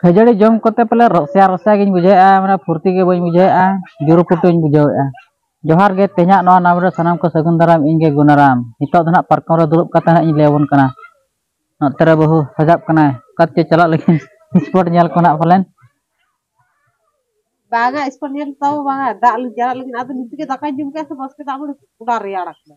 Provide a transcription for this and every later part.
ᱠᱷᱟᱹᱡᱟᱹᱲᱤ ᱡᱚᱢ ᱠᱚᱛᱮ ᱯᱟᱞᱮ ᱨᱚᱥᱭᱟ ᱨᱚᱥᱭᱟ ᱜᱤᱧ ᱵᱩᱡᱷᱟᱹᱣᱮᱫᱼᱟ ᱢᱟᱱᱮ ᱯᱷᱩᱨᱛᱤ ᱜᱮ ᱵᱟᱹᱧ ᱵᱩᱡᱷᱟᱹᱣᱮᱫᱼᱟ ᱡᱩᱨᱩ ᱯᱩᱴᱩᱧ ᱵᱩᱡᱷᱟᱹᱣᱮᱫᱼᱟ ᱡᱚᱦᱟᱨ ᱜᱮ ᱛᱮᱦᱮᱧᱟᱜ ᱱᱚᱣᱟ ᱱᱟᱢ ᱨᱮ ᱥᱟᱱᱟᱢ ᱠᱚ ᱥᱟᱹᱜᱩᱱ ᱫᱟᱨᱟᱢ ᱤᱧ ᱜᱮ ᱜᱩᱱᱟᱨᱟᱢ ᱱᱤᱛᱚᱜ ᱫᱚ ᱱᱟᱦᱟᱜ ᱯᱟᱨᱠᱚᱢ ᱨᱮ ᱫᱩᱲᱩᱵ ᱠᱟᱛᱮ ᱱᱟᱦᱟᱜ ᱤᱧ ᱞᱟᱹᱭᱟᱵᱚᱱ ᱠᱟᱱᱟ ᱱᱚᱛᱮ ᱨᱮ ᱵᱟᱹᱦᱩ ᱥᱟᱡᱟᱜ ᱠᱟᱱᱟᱭ ᱚᱠᱟ ᱛᱮ ᱪᱟᱞᱟᱜ ᱞᱟᱹᱜᱤᱫ ᱥᱯᱚᱴ ᱧᱮᱞ ᱠᱚ ᱱᱟᱦᱟᱜ ᱯᱟᱞᱮᱱ ᱵᱟᱝᱟ ᱥᱯᱚᱴ ᱧᱮᱞ ᱛᱟᱣ ᱵᱟᱝᱟ ᱫᱟᱜ ᱪᱟᱞᱟᱜ ᱞᱟᱹᱜᱤᱫ ᱟᱫᱚ ᱱᱤᱛᱚᱜ ᱜᱮ ᱫᱟᱠᱟᱧ ᱡᱚᱢ ᱠᱮᱫᱟ ᱥᱮ ᱵᱟᱥᱠᱮ ᱫᱟᱜ ᱢᱟᱹᱰᱤ ᱜᱚᱰᱟ ᱨᱮᱭᱟᱲ ᱟᱠᱟᱱᱟ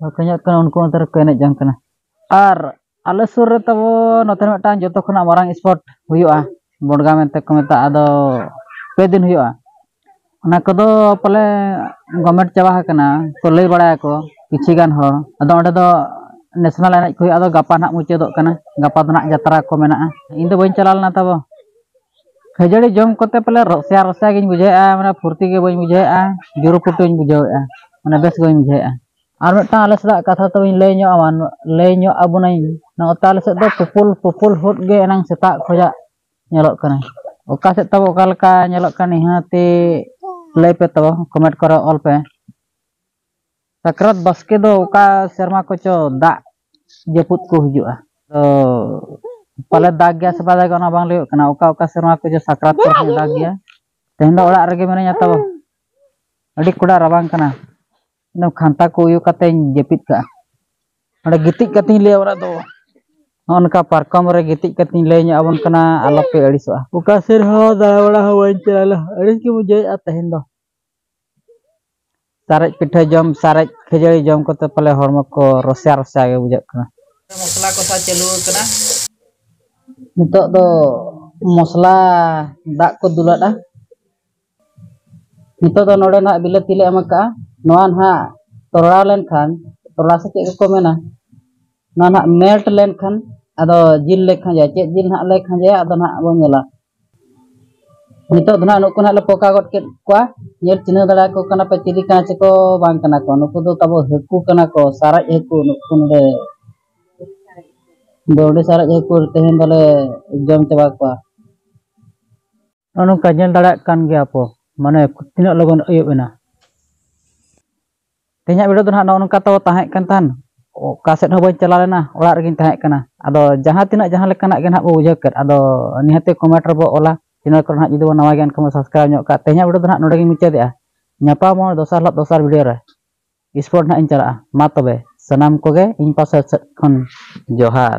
ᱵᱟᱠᱚ ᱧᱟᱢᱚᱜ ᱠᱟᱱᱟ ᱩᱱᱠᱩ ᱚᱱᱛᱮ ᱨᱮᱠᱚ ᱮᱱᱮᱡ ᱡᱚᱝ ᱠᱟᱱᱟ ᱟᱨ ᱟᱞᱮ ᱥᱩᱨ ᱨᱮ ᱛᱟᱵᱚ ᱱᱚᱛᱮ ᱨᱮ ᱢᱤᱫᱴᱟᱝ ᱡᱚᱛᱚ ᱠᱷᱚᱱᱟᱜ ᱢᱟᱨᱟᱝ ᱥᱯᱳᱨᱴ ᱦᱩᱭᱩᱜᱼᱟ ᱵᱚᱰᱜᱟ ᱢᱮᱱᱛᱮ ᱠᱚ ᱢᱮᱛᱟᱜᱼᱟ ᱟᱫᱚ ᱯᱮ ᱫᱤᱱ ᱦᱩᱭᱩᱜᱼᱟ ᱚᱱᱟ ᱠᱚᱫᱚ ᱯᱟᱞᱮ ᱜᱚᱢᱮᱴ ᱪᱟᱵᱟ ᱟᱠᱟᱱᱟ ᱠᱚ ᱞᱟᱹᱭ ᱵᱟᱲᱟᱭᱟᱠᱚ ᱠᱤᱪᱷᱩ ᱜᱟᱱ ᱦᱚᱲ ᱟᱫᱚ ᱚᱸᱰᱮ ᱫᱚ ᱱᱮᱥᱱᱮᱞ ᱮᱱᱮᱡ ᱠᱚ ᱦᱩᱭᱩᱜᱼᱟ ᱟᱫᱚ ᱜᱟᱯᱟ ᱱᱟᱦᱟᱜ ᱢᱩᱪᱟᱹᱫᱚᱜ ᱠᱟᱱᱟ ᱜᱟᱯᱟ ᱫᱚ ᱱᱟᱦᱟᱜ ᱡᱟᱛᱨᱟ ᱠᱚ ᱢᱮᱱᱟᱜᱼᱟ ᱤᱧ ᱫᱚ ᱵᱟᱹᱧ ᱪᱟᱞᱟᱣ ᱞᱮᱱᱟ ᱛᱟᱵᱚ ᱠᱷᱟᱹᱡᱟᱹᱲᱤ ᱡᱚᱢ ᱠᱚᱛᱮ ᱯᱟᱞᱮ ᱨᱚᱥᱭᱟ ᱨᱚᱥᱭᱟ ᱜᱤᱧ ᱵᱩᱡᱷᱟᱹᱣᱮᱫᱼᱟ ᱢᱟᱱᱮ ᱯᱷᱩᱨᱛᱤ ᱜᱮ ᱵᱟᱹᱧ ᱵᱩᱡᱷᱟᱹᱣᱮᱫᱼᱟ ᱡᱩᱨᱩ ᱯᱩᱴᱩᱧ ᱵᱩᱡᱷᱟᱹᱣᱮᱫᱼᱟ ᱢᱟᱱᱮ ᱵᱮᱥ ᱜᱮ ᱵᱟᱹᱧ ᱵᱩᱡᱷᱟᱹᱣᱮᱫᱼᱟ ᱟᱨ ᱢᱤᱫᱴᱟᱝ ᱟᱞᱮ ᱥᱮᱫᱟᱜ ᱠᱟᱛᱷᱟ ᱛᱚᱵᱮᱧ ᱞᱟᱹᱭ ᱧᱚᱜ ᱟᱢᱟ ᱞᱟᱹᱭ ᱧᱚᱜ ᱟᱵᱚᱱᱟᱹᱧ ᱱᱚᱛᱮ ᱟᱞᱮ ᱥᱮᱫ ᱫᱚ ᱯᱩᱯᱩᱞ ᱯᱩᱯᱩᱞ ᱦᱩᱫ ᱜᱮ ᱮᱱᱟᱝ ᱥᱮᱛᱟᱜ ᱠᱷᱚᱡᱟᱜ ᱧᱮᱞᱚᱜ ᱠᱟᱱᱟ ᱚᱠᱟ ᱥᱮᱫ ᱛᱟᱵᱚ ᱚᱠᱟ ᱞᱮᱠᱟ ᱧᱮᱞᱚᱜ ᱠᱟᱱᱟ ᱱᱤᱦᱟᱹᱛᱤ ᱞᱟᱹᱭ ᱯᱮ ᱛᱟᱵᱚ ᱠᱚᱢᱮᱱᱴ ᱠᱚᱨᱮ ᱚᱞ ᱯᱮ ᱥᱟᱠᱨᱟᱛ ᱵᱟᱥᱠᱮ ᱫᱚ ᱚᱠᱟ ᱥᱮᱨᱢᱟ ᱠᱚᱪᱚ ᱫᱟᱜ ᱡᱟᱹᱯᱩᱫ ᱠᱚ ᱦᱤᱡᱩᱜᱼᱟ ᱛᱚ ᱯᱟᱞᱮ ᱫᱟᱜ ᱜᱮᱭᱟ ᱥᱮ ᱵᱟᱭ ᱫᱟᱜᱟ ᱚᱱᱟ ᱵᱟᱝ ᱞᱟᱹᱭᱚᱜ ᱠᱟᱱᱟ ᱚᱠᱟ ᱚᱠᱟ ᱥᱮᱨᱢᱟ ᱠᱚᱪᱚ ᱥᱟᱠᱨᱟᱛ ᱠᱚᱨᱮ ᱫᱟᱜ ᱜᱮᱭᱟ ᱛᱮᱦᱮᱧ ᱫᱚ ᱚᱲᱟᱜ ᱨᱮᱜᱮ ᱢᱤᱱᱟᱹᱧᱟ ᱛᱚ ᱟᱹᱰᱤ ᱠᱚᱰᱟ ᱨᱟᱵᱟᱝ ᱠᱟᱱᱟ ᱤᱧᱫᱚ ᱠᱷᱟᱱᱛᱟ ᱠᱚ ᱩᱭᱩ ᱠᱟᱛᱮᱧ ᱡᱟᱹᱯᱤᱫ ᱠᱟᱜᱼᱟ ᱚᱸᱰᱮ ᱜᱤᱛᱤᱡ ᱠᱟᱛᱮᱧ ᱞᱟᱹᱭᱟ ᱚᱲᱟᱜ ᱫᱚ ᱱᱚᱜᱼᱚ ᱱᱚᱝᱠᱟ ᱯᱟᱨᱠᱚᱢ ᱨᱮ ᱜᱤᱛᱤᱡ ᱠᱟᱛᱮᱧ ᱞᱟᱹᱭ ᱧᱚᱜ ᱟᱵᱚᱱ ᱠᱟᱱᱟ ᱟᱞᱚᱯᱮ ᱟᱹᱲᱤᱥᱚᱜᱼᱟ ᱚᱠᱟ ᱥᱮᱫ ᱦᱚᱸ ᱫᱟᱬᱟ ᱵᱟᱲᱟ ᱦᱚᱸ ᱵᱟᱹᱧ ᱪᱟᱞᱟᱣ ᱞᱮᱱᱟ ᱟᱹᱲᱤᱥ ᱜᱮ ᱵᱩᱡᱷᱟᱹᱣᱮᱫᱼᱟ ᱛᱮᱦᱮᱧ ᱫᱚ ᱥᱟᱨᱮᱡ ᱯᱤᱴᱷᱟᱹ ᱡᱚᱢ ᱥᱟᱨᱮᱡ ᱠᱷᱟᱹᱡᱟᱹᱲᱤ ᱡᱚᱢ ᱠᱟᱛᱮ ᱯᱟᱞᱮ ᱦᱚᱲᱢᱚ ᱠᱚ ᱨᱚᱥᱭᱟ ᱨᱚᱥᱭᱟ ᱜᱮ ᱵᱩᱡᱷᱟᱹᱜ ᱠᱟᱱᱟ ᱢᱚᱥᱞᱟ ᱠᱚᱥᱟᱣ ᱪᱟᱹᱞᱩ ᱟᱠᱟᱱᱟ ᱱᱤᱛᱚᱜ ᱫᱚ ᱢᱚᱥᱞᱟ ᱫᱟᱜ ᱠᱚ ᱫᱩᱞᱟᱫᱼᱟ ᱱᱤᱛᱚᱜ ᱫᱚ ᱱᱚᱰᱮ ᱱᱟᱦᱟᱜ ᱵᱤᱞᱟᱹᱛᱤ ᱞᱮ ᱮᱢ ᱟᱠᱟᱫᱼᱟ ᱱᱚᱣᱟ ᱱᱟᱦᱟᱜ ᱛᱚᱨᱲᱟᱣ ᱞᱮᱱᱠᱷᱟᱱ ᱛᱚᱨᱲᱟ ᱥᱮ ᱪᱮᱫ ᱠᱚᱠᱚ ᱢᱮᱱᱟ ᱱᱚᱣᱟ ᱱᱟᱦᱟᱜ ᱢᱮᱞᱴ ᱞᱮᱱᱠᱷᱟᱱ ᱟᱫᱚ ᱡᱤᱞ ᱞᱮ ᱠᱷᱟᱸᱡᱚᱭᱟ ᱪᱮᱫ ᱡᱤᱞ ᱱᱟᱦᱟᱜ ᱞᱮ ᱠᱷᱟᱸᱡᱚᱭᱟ ᱟᱫᱚ ᱱᱟᱦᱟᱜ ᱵᱚᱱ ᱧᱮᱞᱟ ᱱᱤᱛᱚᱜ ᱫᱚ ᱱᱟᱦᱟᱜ ᱱᱩᱠᱩ ᱱᱟᱦᱟᱜ ᱞᱮ ᱯᱚᱠᱟ ᱜᱚᱫ ᱠᱮᱫ ᱠᱚᱣᱟ ᱧᱮᱞ ᱪᱤᱱᱦᱟᱹᱣ ᱫᱟᱲᱮᱭᱟᱠᱚ ᱠᱟᱱᱟ ᱯᱮ ᱪᱤᱞᱤ ᱠᱟᱱᱟ ᱪᱮᱠᱚ ᱵᱟᱝ ᱠᱟᱱᱟ ᱠᱚ ᱱᱩᱠᱩ ᱫᱚ ᱛᱟᱵᱚ ᱦᱟᱹᱠᱩ ᱠᱟᱱᱟ ᱠᱚ ᱥᱟᱨᱮᱡ ᱦᱟᱹᱠᱩ ᱱᱩᱠᱩ ᱱᱚᱰᱮ ᱵᱟᱹᱣᱰᱤ ᱥᱟᱨᱮᱡ ᱦᱟᱹᱠᱩ ᱛᱮᱦᱮᱧ ᱫᱚᱞᱮ ᱡᱚᱢ ᱪᱟᱵᱟ ᱠᱚᱣᱟ ᱱᱚᱜᱼᱚ ᱱᱚᱝᱠᱟ ᱧᱮᱞ ᱫᱟᱲᱮᱭᱟᱜ ᱠᱟᱱ ᱜᱮᱭᱟ ᱯᱚ ᱢᱟᱱᱮ ᱛᱤᱱᱟᱹᱜ ᱞᱚᱜᱚᱱ ᱟᱹᱭᱩᱵ ᱮᱱᱟ ᱛᱮᱦᱮᱧᱟᱜ ᱵᱷᱤᱰᱤᱭᱳ ᱫᱚ ᱱᱟᱦᱟᱜ ᱱᱚᱜᱼᱚ ᱱᱚᱝᱠᱟ ᱛᱟᱵᱚ ᱛᱟᱦᱮᱸ ᱠᱟᱱ ᱛᱟᱦᱮᱱ ᱚᱠᱟ ᱥᱮᱫ ᱦᱚᱸ ᱵᱟᱹᱧ ᱪᱟᱞᱟᱣ ᱞᱮᱱᱟ ᱚᱲᱟᱜ ᱨᱮᱜᱮᱧ ᱛᱟᱦᱮᱸ ᱠᱟᱱᱟ ᱟᱫᱚ ᱡᱟᱦᱟᱸ ᱛᱤᱱᱟᱹᱜ ᱡᱟᱦᱟᱸ ᱞᱮᱠᱟᱱᱟᱜ ᱜᱮ ᱱᱟᱦᱟᱜ ᱵᱚ ᱵᱩᱡᱷᱟᱹᱣ ᱠᱮᱫ ᱟᱫᱚ ᱱᱤᱦᱟᱹᱛᱤ ᱠᱚᱢᱮᱱᱴ ᱨᱮᱵᱚ ᱚᱞᱟ ᱪᱮᱱᱮᱞ ᱠᱚᱨᱮ ᱱᱟᱦᱟᱜ ᱡᱩᱫᱤ ᱵᱚ ᱱᱟᱣᱟ ᱜᱮᱭᱟ ᱮᱱᱠᱷᱟᱱ ᱵᱚ ᱥᱟᱵᱥᱠᱨᱟᱭᱤᱵᱽ ᱧᱚᱜ ᱠᱟᱜᱼᱟ ᱛᱮᱦᱮᱧᱟᱜ ᱵᱷᱤᱰᱤᱭᱳ ᱫᱚ ᱱᱟᱦᱟᱜ ᱱᱚᱰᱮ ᱜᱮᱧ ᱢᱩᱪᱟᱹᱫᱮᱜᱼᱟ ᱧᱟᱯᱟᱢᱚᱜᱼᱟ ᱫᱚᱥᱟᱨ ᱦᱤᱞᱳᱜ ᱫᱚᱥᱟᱨ ᱵᱷᱤᱰᱤᱭᱳ ᱨᱮ ᱥᱯᱳᱨᱴ ᱱᱟᱦᱟᱜ ᱤᱧ ᱪᱟᱞᱟᱜᱼᱟ ᱢᱟ ᱛᱚᱵᱮ ᱥᱟᱱᱟᱢ ᱠᱚᱜᱮ ᱤᱧ ᱯᱟᱥᱮ ᱥᱮᱫ ᱠᱷᱚᱱ ᱡᱚᱦᱟᱨ